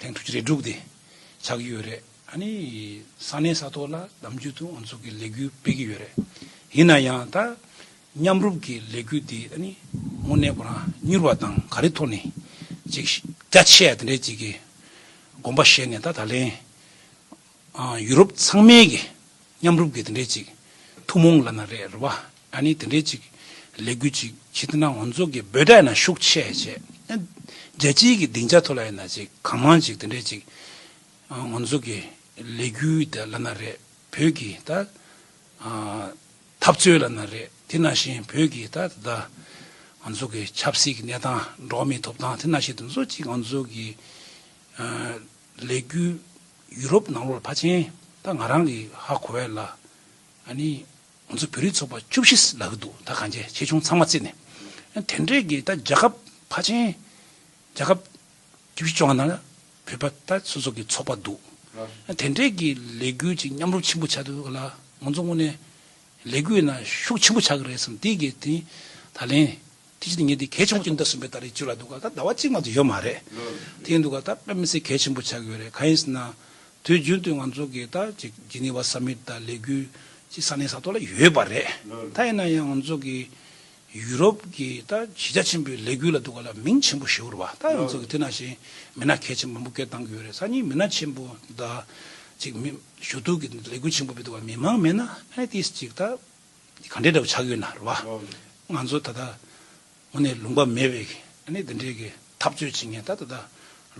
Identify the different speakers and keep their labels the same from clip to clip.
Speaker 1: དེང་ཐུགས་རྗེ་རེ་དྲུག་དེ་ཆགས་ཀྱི་ཡོད་རེད། ཨ་ནི་ས་གནས་ས་ཐོག་ལ་གདམ་རྒྱུད་དུ་ཨུ་ཚུགས་ཀྱི་ལས་འགུལ་སྤེལ་གྱི་ཡོད་རེད། ཡིན་ན་ཡང་ད་མཉམ་རུབ་ཀྱི་ལས་འགུལ་འདི་ཨ་ནི་དངོས་གནས་ཁོ་རང་མྱུར་བ་དང་ག་རེ་ཐོག་ནས་ཅིག་རྒྱ་ཆེ་ཡ་དེ་འདྲས་ཅིག་གི་དགོངས་པ་བཞེས་ནས་ད་ད་ལན། ཡུ་རོབ་ཚང་མའི་གི་མཉམ་རུབ་གི་དེ་འདྲའི་ཅིག་ཐུགས་མོང་ལ་ན་རེ་རུ་བ་ཨ་ནི་དེ་འདྲའི་ཅིག་ལས་གུ་ཅིག་ཁྱི་དེ་ན་ངོ་ཚོགས་གི་འབོད་སྒྲ་ཡི་ན་ཤུགས་ཆེ་ཡ་ཆེ་ཨ་རྒྱལ་སྤྱིའི་གི་སྡིངས་ཆ་ཐོ་ལ་ཡི་ན་ཅིག་གང་མང་ཅིག་དེ་འདྲའི་ཅིག་ངོ་ཚོགས་གི་ལས་གུ་དེ་ལ་ན་རེ་བོད་གི་ད་འཐབ་རྩོད་ལ་ན་རེ་དེ་ན་བཞིན་བོད་གི་ད་དེ་དག་ང་ཚོགས་གི་ཆབ་སྲིད་གི་གནས་སྟངས་འགྲོ་མི་ཐོབ་ཐང་དེ་ན་བཞིན་དེ་ཚོ་ཅིག་ང་ཚོགས་གི། ལས་རྒྱུ། ཡུ་རོབ་ནང་ལོགས་ལ་ཕ་ཆེན་ད་ང་རང་གི་ཧ་གོ་བས་ལ་ཨ་ནི་ང་ཚོ་བོད་རིགས་ཚོགས་པ་བཅུ་བཞི་ལག་གི་འདུག་ད་གང་ཆེ་ཆེ་ཆུང་ཚང་མ་བརྩིས་ནས་དེ་འདྲས་ཀྱི་ད་རྒྱ་ཁབ་ཕ་ཆེན་རྒྱ་ཁབ་བཅུ་བཞི་བཅོ་ལྔ་ནང་ལ་བོད་པ་ད་སོ་སོ་གི་ཚོགས་པ་འདུག་དེ་འདྲས་ཀྱི་ལས་རྒྱུ་ཅིག་མཉམ་རུབ་ཆེན་པོ་བྱ་དུ་ག་ལ་ང་ཚོ་དངོས་ནས་ལས་རྒྱུ་ཡིན་ན་ཤུགས་ཆེན་པོ་ཆགས་ཀྱི་རེད་བསམ་དེ་ཀྱི་དེ་ད་ལན་དེ་བཞིན་ངེད་འདི་གལ་ཆེན་པོ་གཅིག་འདི་ཟིན་པའི་ལྟར་རེ་ཅོད་ལ་འདུག་ག་ད་ཟླ་བ་གཅིག་མ་ཚོ་ཡོད་མ་རེད། དེ་ཡིན་འདུག་ག་ད་དཔེ་མི་སྲིད་གལ་ཆེན་པོ་ཆགས་ཡོད་རེད་གང་ཡིན་ཟེར་ན། དུས་རྒྱུན་དུ་ང་ཚོ་གི་ད་ཅིག་ཇི་ནི་བ་ས་མིད་ད་ལས་འགུལ་གཅིག་ས་གནས་ས་ཐོག་ལ་ཡོད་པ་རེད། ད་ཡིན་ན་ཡང་ང་ཚོ་གི་ཡུ་རོབ་གི་ད་གཞི་རྒྱ་ཆེན་པོའི་ལས་འགུལ་ལ་འདུག་ག་ལ་མིང་ཆེན་པོ་ཞེ་བོར་བ་ད་ང་ཚོ་གི་དེ་ན་བཞིན་མི་སྣ་གལ་ཆེན་མང་པོ་སྐད་བཏང་གི་ཡོད་རེད་ས་གཉིས་མི་སྣ་ཆེན་པོ་ད་ཅིག་མི་ཞུ་གཏུག་གི་ལས་འགུལ་ཆེན་པོ་མི་འདུག་ག་མི་མང་མེད་ན་ཨ་ནི་དེ་ཅིག་ད། གང་འདྲའི་འདྲ་པོ་ཆགས་ཡོད་ན་རེད་བ། ང་ཚོ་ད་ལྟ་ངོ་ནས་ལུང་པ་མེད་པའི་གནས་འདི་འདྲའི་གི་འཐབ་རྩོད་བྱེད་མཁན་ད་ད་ལྟ་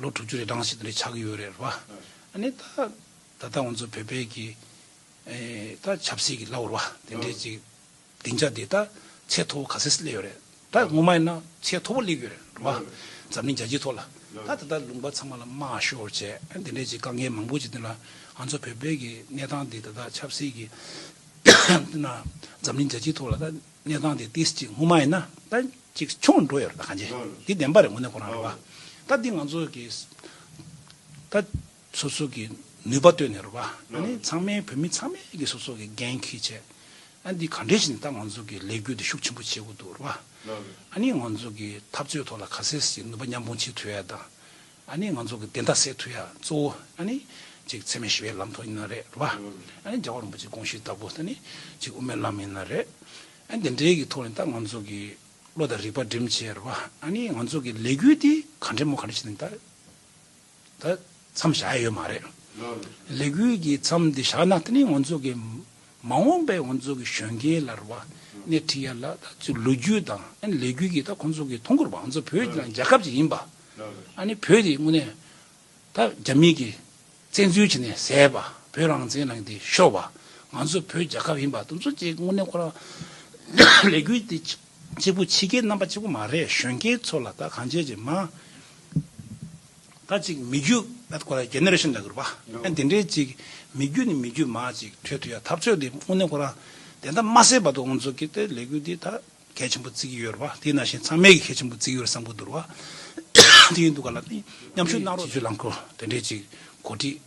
Speaker 1: ལོ་དྲུག་ཅུ་རེ་གྲངས་ཤིག་འདི་འདྲའི་ཆགས་ཡོད་རེད་བ། ནི་ད་ད་ལྟ་ང་ཚོ་བོད་པའི་གི་ད་ཆབ་སྲིད་གི་ལ་བར་བ་དེ་འདྲའི་གཅིག་སྡིངས་ཆ་འདི་ད་ཚད་མཐོ་བོ་ག་ཚད་སུ་སླེབས་ཡོད་རེད། ད་སྔོན་མ་ཡིན་ན་ཚད་མཐོ་པོ་གླེགས་ཡོད་རེད་འགྲོ་བ་འཛམ་གླིང་རྒྱ་ཁྱི་ཐོག་ལ་ད་ད་ལྟ་ལུང་པ་ཚང་མ་ལ་དམའ་ཤོར་བྱས་དེ་འདྲས་ཀྱི་དཀའ་ངལ་མང་པོ་ཅིག་འདི་ལ་ང་ཚོ་བོད་པའི་གི་གནས་སྟངས་འདི་ད་ད་ཆབ་སྲིད་གི་ན་འཛམ་གླིང་རྒྱ་ཁྱི་ཐོག་ལ་ད་གནས་སྟངས་འདི་ཏིས་ཅིག་སྔོན་མ་ཡིན་ན་ད་ཅིག་ཆུང་འགྲོ་ཡོད་རེད་ད་གང་ཅི་འདི་བདེན་པ་རེད་ངོ་ནས་ཁོ་རང་རེད་བ་ད་འདི་ང་ཚོ་གི་ད། སོ་སོ་གི་ནུས་པ་བཏོན་ནས་རུ་བ་ནི་ཚང་མའི་བོད་མི་ཚང་མའི་གི་སོ་སོ་གི་འགན་ཁུས་བྱས། ཨ་འདི་ག་འདྲའི་ཞིག་ནི་ད་ང་ཚོ་གི་ལས་འགུལ་འདི་ཤུགས་ཆེན་པོ་བྱེད་དགོས་འདུག་རུ་བ། ཨ་ནི་ང་ཚོ་གི་འཐབ་རྩོད་ཐོག་ལ་ག་སེ་ཞིག་ནུས་པ་མཉམ་སྤུངས་བྱེད་ཐུ་ཡ་དང། ཨ་ནི་ང་ཚོ་གི་བདེན་མཐའ་སེལ་ཐུ་ཡ་གཙོ་བོ་ཨ་ནི་ཅིག་འཚེ་མེད་ཞི་བའི་ལམ་ཐོག་ཡིན་ན་རེད་རུ་བ། ཨ་ནི་རྒྱལ་བ་རིན་པོ་ཆེ་དགོངས་ཞུས་ལྟ་བུ་ད་ནི་ཅིག་དབུ་མའི་ལམ་ཡིན་ན་རེད། ཨ་ནི་དེ་འདྲའི་གི་ཐོག་ནས་ད་ང་ཚོ་གི་བློ་དང་རིག་པ་འགྲིམ་བྱས་རུ་བ། ཨ་ནི་ང་ཚོ་གི་ལས་འགུལ་འདི་ག་འདྲའི་མོ་ག་འདྲའི་ཞིག་ནི་ད། ད་མཚམས་བཞག་ཡས་ཡོད་མ་རེད། ལས་འགུལ་གྱི་མཚམས་འདི་བཞག་ན་དེ་ནི་ང་ཚོ་གི་མ་འོངས་པའི་ང་ཚོ་གི་གཞོན་སྐྱེས་ལ་རེ་བ་སྣེ་ཁྲིད་ཡས་ལ་ད་ཚོའི་ལོ་རྒྱུས་དང་ལས་འགུལ་གྱི་ད་ཁོང་ཚོ་གི་ཐོ་འགོད་པ་ང་ཚོ་བོད་དང་རྒྱལ་ཁབ་ཅིག་ཡིན་པ། ཨ་ནི་བོད་དེ་དངོས་གནས་ད་རྒྱ་མི་གི་བཙན་འཛུལ་བྱས་ནས་ཟད་པ་བོད་རང་བཙན་ལ་འདི་ཤོར་བ་ང་ཚོ་བོད་རྒྱལ་ཁབ་ཡིན་པ་དུ་ཚོ་ཅིག་དངོས་གནས་ཁོ་རང་ལས་འགུལ་འདི་གཅིག་པུ་ཕྱི་རྒྱལ་རྣམ་པ་གཅིག་པུ་མ་རེད་གཞོན་སྐྱེས་ཚོ་ལ་ད་གང་བྱས་ཀྱི་མ་ད་ཅིག་མི་རྒྱུ། That Korea Generation ལ་གུར་པ་ཨན་དེ་འདྲའི་ཅིག་མི་རྒྱུ་ནི་མི་རྒྱུ་མ་ཅིག་འཕྲོད་ཐུ་ཡ་ཐབས་ཆོད་དེ་དངོས་གནས་ཁོ་རང་དེ་འདྲ་མ་སེ་བ་དུ་འུ་ཚོ་གི་དེ་ལས་གུ་དེ་ད་གལ་ཆེན་པོ་བརྩི་གི་ཡོད་རུ་བ་དེ་ན་བཞིན་ཚང་མས་གི་གལ་ཆེན་པོ་བརྩི་གི་ཡོད་བསམ་གུ་འདུར་བ་དེ་ཡིན་འདུག་ག་ལ་དེ་མཉམ་ཞུགས་གནང་རོགས། སྤྱི་ཚོས་རླངས་འཁོར་དེ་འདྲའི་ཅིག་གོ་སྒྲིག།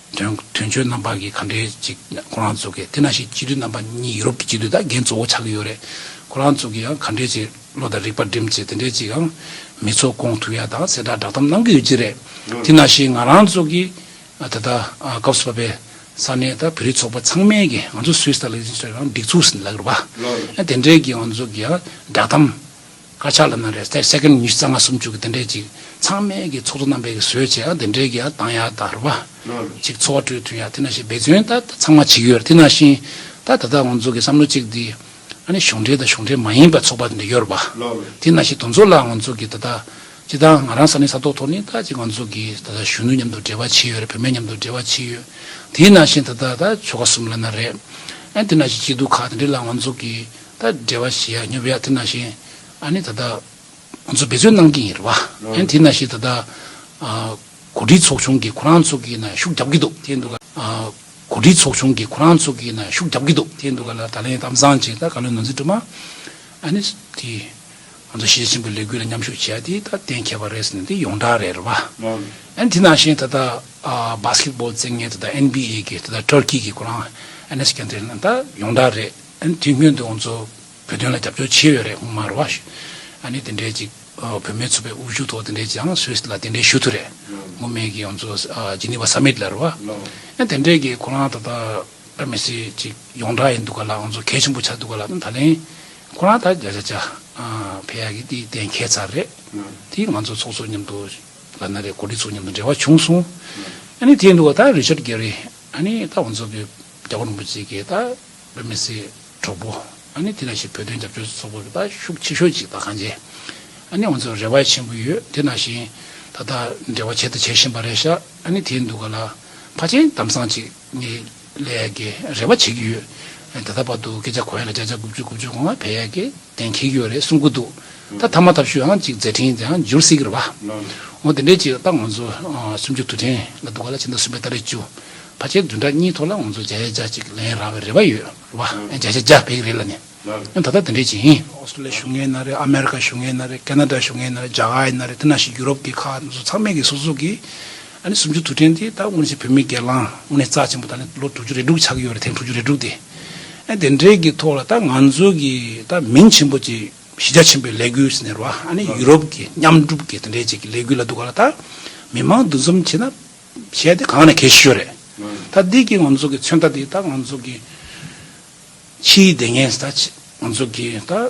Speaker 1: དོན་གཅོད་རྣམ་པ་གིས་ག་འདྲའི་ཅིག་ཁོ་རང་ཚོ་གི་དེ་ན་ཞིག་སྤྱི་འཐུས་རྣམ་པ་གཉིས་ཡུ་རོབ་ཀྱི་སྤྱི་འཐུས་དང་རྒན་གཙོ་བོ་ཆགས་ཀྱི་ཡོད་རེད། ཁོ་རང་ཚོ་གིས་ཡང་ག་འདྲའི་ཅིག་བློ་དང་རིག་པ་སྒྲིམ་ཅིག་དེ་འདྲའི་ཅིག་ཡང་མི་ཚོགས་དགོངས་ཐུགས་ཡ་དང་གསལ་བསྒྲགས་བསྒྲགས་གཏམ་གནང་གི་ཡོད་ཀྱི་རེད། དེ་ན་ཞིག་ང་རང་ཚོ་གི་ད་ལྟ་སྐབས་སུ་བབས་པའི་ས་གནས་དང་བོད་རིགས་ཚོགས་པ་ཚང་མས་གིས་ང་ཚོ་སུད་སི་དང་ལིག་ཟིན་སོགས་ཡང་སྒྲིག་འཛུགས་ཟིན་ལ་གྱུར་པ། དེ་འདྲས་ཀྱིས་ང་ཚོ་གིས་ཡང་བསྒྲགས་གཏམ། དཀར་ཆག་ལ་ན་རེ་ཐེར་སེཀེན་ཉི་ཤུ་རྩ་ལྔ་སུམ་ཅུ་གི་དེ་འདྲས་ཅིག་ཚང་མལ་གྱི་ཚོགས་གཙོ་རྣམ་པས་གི་བཟོས་བྱས་ཨ་དེ་འདྲས་ཀྱི་ཨ་དང་ཡ་དང་རུ་བ་ཅིག་འཚོ་བ་གྲོས་འཐུན་ཡ་དེ་ན་ཤེས་འབད་བརྩོན་ད་ད་ཚང་མ་བྱེད་ཀྱི་ཡོད་རེད་དེ་ན་བཞིན་ད་ད་ད་འོ་འཛོ་གི་བསམ་བློ་ཅིག་དེ་ཨ་ནི་གཞུང་འབྲེལ་དང་གཞུང་འབྲེལ་མ་ཡིན་པ་ཚོགས་པ་དེ་འདྲས་ཡོད་རུ་བ་དེ་ན་ཤེས་དོ་འཛོ་ལ་འོ་འཛོ་གི་ད་ད་ཅི་ད་ང་རང་ས་ནི་ས་ཐོག་ཐོག་ནི་ད་ཅིག་འོ་འཛོ་གི་ད་ད་གཞོན་ནུ་མཉམ་དུ་འབྲེལ་བ་བྱེད་ཡོད་རེད་བུད་མེད་མཉམ་དུ་འབྲེལ་བ་བྱེད་ཡོད་དེ་ན་བཞིན་ད་ད་ད་ཆོལ་ཁ་གསུམ་ལ་ན་རེ་ཨ་དེ་ན་བཞིན་སྐྱིད་སྡུག་ཁག་དེ་འདྲས་ལ་འོ་འཛོ་གི། ད་འབྲེལ་བ་བྱེད་ཡག་ཉོབ་ཡག་དེ་ན་བཞིན་ཨ་ནི་ད་ལྟ་ང་ཚོ་འབད་བརྩོན་གནང་གི་ཡིན་རེད་བ། ཨ་ནི་དེ་ན་བཞིན་ད་ལྟ་གོ་སྒྲིག་ཚོགས་ཆུང་གི་ཁོ་རང་ཚོ་གི་ནང་ཤུགས་རྒྱབ་ཀྱི་འདུག་དེ་འདུག་གོ་སྒྲིག་ཚོགས་ཆུང་གི་ཁོ་རང་ཚོ་གི་ནང་ཤུགས་རྒྱབ་ཀྱི་འདུག་དེ་འདུག་ག་ལ་ད་ལན་གཏམ་བཟང་བྱས་ད་ག་ལོའི་ནོར་འཛིན་སྒྲོལ་མ་ཨ་ནི་དེ་ང་ཚོ་ཞི་ཆེན་པོའི་ལས་འགུལ་ལ་མཉམ་ཞུགས་བྱེད་ཡག་དེ་ད་གཏན་འཁེལ་བ་རེད་ཟེར་ནས་དེ་ཡོངས་གྲགས་རེད་རེད་བ། ཨ་ནི་དེ་ན་བཞིན་ད་ལྟ Basketball རྩེད་ངན་ད་ལྟ NBA གི་ད་ལྟ Turkey གི་ཁོ་རང་ཨ་ནི Scandal ད་ཡོངས་གྲགས་རེད། དེ་སྔོན་དུ་ང་ཚོ་བོད་དོན་ལ་རྒྱབ་སྐྱོར་བྱས་ཡོད་རེད་མར་བ། ཨ་ནི་དེ་འདྲའི་ཅིག་བོད་མའི་ཚོ་པའི་དབུ་བཞུགས་ཐོག་དེ་འདྲའི་ཅིག་ཨང་སུད་ལ་དེ་འདྲའི་ཞུ་ཐུ་རེད། མུ་མེད་ཀྱི་ང་ཚོ་ཇི་ནི་བ Summit ལར་བ། ཨ་དེ་འདྲའི་ཀྱི་ཁོ་རང་ད་ལྟ་ཨ་མི་སི་ཅིག་ཡོང་གྲགས་ཡིན་འདུག་ག་ལ་ང་ཚོ་གལ་ཆེན་པོ་ཆགས་འདུག་ག་ལ་ད་ལན་ཁོ་རང་ད་རྒྱ་ཆ་ཆ་བས་ཡ་གི་དེ་གཏན་འཁེལ་ཚར་རེད། དེ་ང་ཚོ་ཚོགས་གཙོ་མཉམ་དུ་ལ་ན་རེ་གོ་ལི་ཚོ་མཉམ་དུ་འབྲེལ་བ་བྱུང་སོང། ཨ་ནི་དེ་འདུག་ག་ད་རི་ཆར་གྷེ་རི་ཨ་ནི་ད་ང་ཚོ་གི་རྒྱ་གོ་རིན་པོ་ཆེ་གི་ད་བོད་མི་སེར་གྲོགས་པོ་ཨ་ནི་དེ་ན་བཞིན་བོད་དོན་རྒྱབ་སྐྱོར་ཚོགས་པ་དེ་དག་ཤུགས་ཆེ་ཤོས་ཅིག་དང་གང་བྱས་ཨ་ནི་ང་ཚོར་རེ་བ་ཆེན་པོ་ཡོད་དེ་ན་བཞིན་ད་ལྟ་འབྲེལ་བ་བྱེད་དུ་བྱེད་བཞིན་པ་རེད་ཤག་ཨ་ནི་དེའི་འདུག་ག་ལ་ཕ་ཆེན་དམ་སང་ཅིག་ངས་ལས་ཀྱི་རེ་བ་བྱེད་ཀྱི་ཡོད་ད་ལྟ་བར་དུ་སྐད་ཆ་གོ་ཡ་ལ་བརྒྱ་ཆ་དགུ་བཅུ་དགུ་བཅུ་གོ་ང་བས་ཡ་གི། གདན་འཁེལ་རྒྱུ་རེད་གསུང་གི་འདུག་ད་ཐ་མ་ཐབས་ཤུས་ཨང་གཅིག་མཛད་འཕྲིན་དེ་ཨང་འགྱུར་སྲིད་གི་རེད་བ། འོ་དེ་འདྲའི་ཅིག་ད་ང་ཚོ་སུམ་ཅུ་དུས་དྲན་ལ་འདུག་ག་ལ་ཕྱི་ཟླ་གསུམ་པའི་ཟླ་རེ་བཅུ་ཕ་ཆའི་བདུན་ཕྲག་གཉིས་ཐོག་ལ་ང་ཚོ་བརྒྱ་ཆ་བརྒྱ་གཅིག་ལེན་རག་བའི་རེ་བ་ཡོད་རེད་བ། བརྒྱ་ཆ་བརྒྱ་བེད་ཀི་རེད་ལ་ནི། ཡང་ད་ལྟ་དེ་འདྲའི་ཅིག་ཡིན། ཨོ་སི་ཏྲེ་ལི་ཡའི་གཞུང་ཡིན་ན་རེད་ཨ་མེ་རི་ཀ་གཞུང་ཡིན་ན་རེད་ཀེ་ན་ཏྲ་གཞུང་ཡིན་ན་རེད་རྒྱ་གར་ཡིན་ན་རེད་དེ་ནང་བཞིན་ཡུ་རོབ་དེ་ཁག་ཚང་མས་ཀི་སོ་སོ་ཀི། ཨ་ནི་སུམ་ཅུ་དུ་དྲན་ཏེ་ད་སྔོན་བཞིན་བུད་མེད་སྒེར་ལངས་སྔོན་ནས་རྩ་ཆེན་པོ་ད་ནི་ལོ་དྲུག་ཅུ་རེ་དྲུག་ཆགས་ཀྱི་ཡོད་རེད་ཐེངས་དྲུག་ཅུ་རེ་དྲུག་དེ། ཨ་དེ་འདྲའི་གི་ཐོག་ལ་ད་ང་ཚོ་གི་ད་མིང་ཆེན་པོ་ཅིག་གཞི་རྒྱ་ཆེན་པོའི་ལས་འགུལ་ཟེར་ནས་རོ་ཨ་ནི་ཡུ་རོབ་གི་མཉམ་སྒྲུབ་གི་དེ་འདྲའི་ཅིག་གི་ལས་འགུལ་ལ་འདུག་ག་ལ་ད་མི་མང་འདུ་འཛོམས་བྱེད་ན་བྱས་ཏེ་གང་ནས་གལ་ཤོས་རེད། ད་འདི་གི་ང་ཚོ་གི་མཚོན་རྟགས་འདི་ད་ང་ཚོ་གི་ཕྱིའི་བདེ་ངན་ད་ང་ཚོ་གི་ད།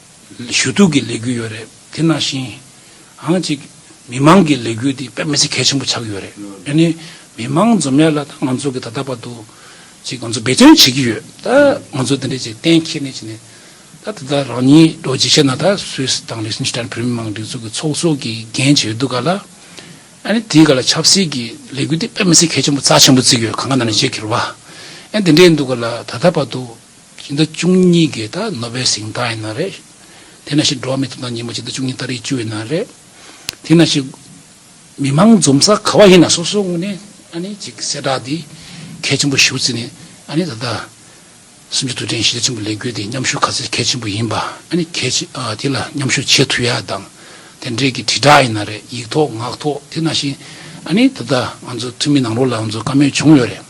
Speaker 1: ཞུ་གཏུག་གི་ལས་འགུལ་ཡོད་རེད་དེ་ནང་བཞིན། ཨང་གཅིག་མི་མང་གི་ལས་འགུལ་དེ་དཔེ་མི་ཚེ་གལ་ཆེན་པོ་ཆགས་ཡོད་རེད་དེ་ནི་མི་མང་འཛོམས་ཡ་ལ་ང་ཚོ་གི་ད་ལྟ་བར་དུ། ཅིག་ང་ཚོ་འབད་བརྩོན་བྱེད་ཀྱི་ཡོད་ད་ང་ཚོ་འདི་འདྲའི་ཅིག་གཏན་འཁེལ་ནས་ཅིག་ནས། ད་ད་ལྟ་རང་ཉིད་རྡོ་རྗེ་ཤེས་ན་ད Swiss དང Liechtenstein བོད་མི་མང་སྒྲིག་འཛུགས་ཀྱི་ཚོགས་གཙོ་གི་འགན་བྱས་ཡོད་འདུག་ག་ལ། ཨ་ནི་དེའི་ག་ལ་ཆབ་སྲིད་ཀྱི་ལས་འགུལ་དེ་དཔེ་མི་ཚེ་གལ་ཆེན་པོ་རྩ་ཆེན་པོ་བརྩིགས་ཡོད་ག་ང་ན་ནས་བྱེད་ཁེལ་བ། ཨ་འདི་འདྲའི་འདུག་ག་ལ་ད་ལྟ་བར་དུ། སྤྱི་ཟླ་བཅུ་གཉིས་གའི་ད་ནོ་བའི་ཟིང་ལྟ་ཡིན་ན་རེད། དེ་ན་ཞིག་འགྲོ་བ་མི་ཐུབ་ན་ཉིན་མོ་སྤྱི་ཟླ་བཅུ་གཉིས་ད་རེས་བཅུ་ཡིན་ན་རེད། དེ་ན་ཞིག་མི་དམངས་འཛོམས་ས་ག་བ་ཡིན་ན་སོ་སོའི་ངོས་ནས་ཨ་ནི་ཅིག་གསལ་བསྒྲགས་འདི་གལ་ཆེན་པོ་ཞུ་ཚེ་ནི་ཨ་ནི་ད་ལྟ་སུམ་ཅུ་དུས་དྲན་ཞི་ལས་ཆེན་པོ་ལས་འགུལ་འདི་མཉམ་ཞུགས་ག་ཚད་གལ་ཆེན་པོ་ཡིན་པ་ཨ་ནི་གལ་ཆེ་དེ་ལ་མཉམ་ཞུགས་བྱེད་ཐུབ་ཡ་དང་དེ་འབྲེལ་གྱི་དྲིལ་བསྒྲགས་ཡིན་ན་རེད་ཡིག་ཐོག་ངག་ཐོག་དེ་ན་ཞིག་ཨ་ནི་ད་ལྟ་ང་ཚོ་འཐུས་མི་ནང་རོགས་ལ་ང་ཚོ་བཀའ་མོལ་བྱུང་ཡོད་རེད།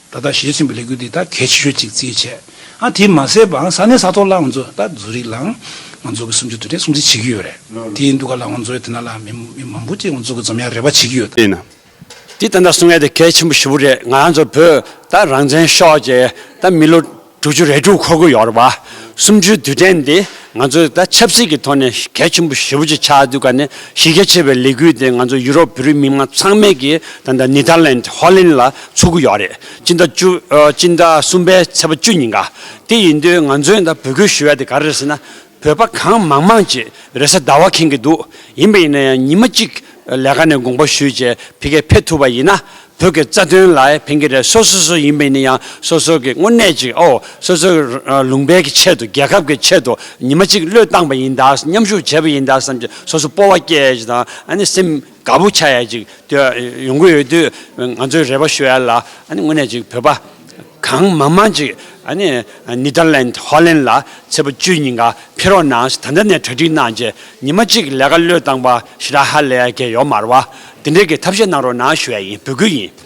Speaker 1: ད་ལྟ་བཞེས་ཟིན་པའི་ལས་འགུལ་འདི་དག་གལ་ཆེ་ཤོས་གཅིག་རྩིས་བྱས། ཨང་དེ་མ་ཟད་པའང་ས་གནས་ས་ཐོག་ལའང་མཛོད་ད་བཟོ་རིགས་ལའང་མ་འཛོད་ཀྱི་སུམ་ཅུ་དུས་དྲན་སྲུང་བརྩི་བྱེད་ཀྱི་ཡོད་རེད། དེའི་འདུག་ག་ལའང་མཛོད་དེ་ན་ལ་མི་མི་མང་པོ་གཅིག་མཛོད་ཀྱི་འཛོམས་ཡ་རེ་བ་བྱེད་ཀྱི་ཡོད། དེས་ན་
Speaker 2: དེ་ལྟ་ན་སྲུང་ཡ་དེ་གལ་ཆེན་པོ་ཞུ་བོ་རེད་ང་རང་ཚོ་བོད་ད་རང་བཙན་ཤོག་ཅེས་ད་མི་ལོ། དྲུག་ཅུ་རེ་དྲུག་འཁོར་དགོས་ཡོད་རེད་བ། སུམ་ཅུའི་དུས་དྲན་འདི་ང་ཚོས་ད་ཆབ་སྲིད་ཀྱི་ཐོག་ནས་གལ་ཆེན་པོ་ཞེ་བོ་ཅིག་ཆགས་འདུག་ག་ནས་གཞི་རྒྱ་ཆེ་བའི་ལས་འགུལ་དེ་ང་ཚོ་ཡུ་རོབ་བོད་རིགས་མི་དམངས་ཚང་མས་ཀྱི་ད་ལྟ་ནི་ཐར་ལན་ཧོ་ལན་ལ་ཚུགས་ཀྱི་ཡོད་རེད་སྤྱི་ཟླ་བཅུ། སྤྱི་ཟླ་གསུམ་པའི་ཚེས་པ་བཅུ་ཉིན་ག་དེ་ཡིན་དུས་ང་ཚོས་ད་བོད་ཁུལ་ཞུ་བ་དེ་ག་རེ་རེད་ཟེར་ན་བོད་པ་གང་མང་མང་ཅེས་རེ་ས་ཟླ་བ་ཁེངས་ཀྱི་འདུག་ཡིན་པ་ཡིན་ན་ཡང་ཉིན་མ་གཅིག་ལས་ཀ་ནས་དགོངས་པ་ཞུས་རྗེས་ཕི་ཀའི་ཕེབས་ཐུབ་པ་ཡིན་ན་བོད་ཀྱི་རྩ་དོན་ལ་ཕན་གྱི་རེད་སོ་སོ་སོ་ཡིན་པ་ཡིན་ན་ཡང་སོ་སོ་གྱི་དངོས་གནས་ཅིག་ཨོ་སོ་སོ་ལུང་པའི་གྱི་ཆེད་དུ་རྒྱལ་ཁབ་ཀྱི་ཆེད་དུ་ཉིན་མ་གཅིག་བློས་བཏང་པ་ཡིན་ད་མཉམ་ཞུགས་བྱས་པ་ཡིན་ད་བསམ་གྱི་སོ་སོ་སྤོ་བ་སྐྱེས་ཀྱི་དང་ཨ་ནི་སེམས། དགའ་པོ་ཆགས་ཡས་ཅིག་ཡོང་གི་ཡོད་དུས་ང་ཚོས་རེ་བ་ཞུ་ཡས་ལ་དངོས་གནས་ཅིག་བོད་པ་གང་མང་མང་ཅིག Netherland Holland ལ་ཚེས་པ་བཅུའི་ཉིན་ག་ཕེ་རོག་ན་ད་ལྟ་ནས་གྲ་སྒྲིག་གནང་རྗེས་ཉི་མ་གཅིག་ལས་ཀ་བློས་བཏང་པ་ཞི་ར་ཧ་ལས་ཀྱི་ཡོག་མར་བ་དེ་འདྲས་ཀྱི་ཐབས་ཤེས་གནང་རོགས་གནང་ཞུ་ཡས་ཡིན་འབོད་སྐུལ་ཡིན།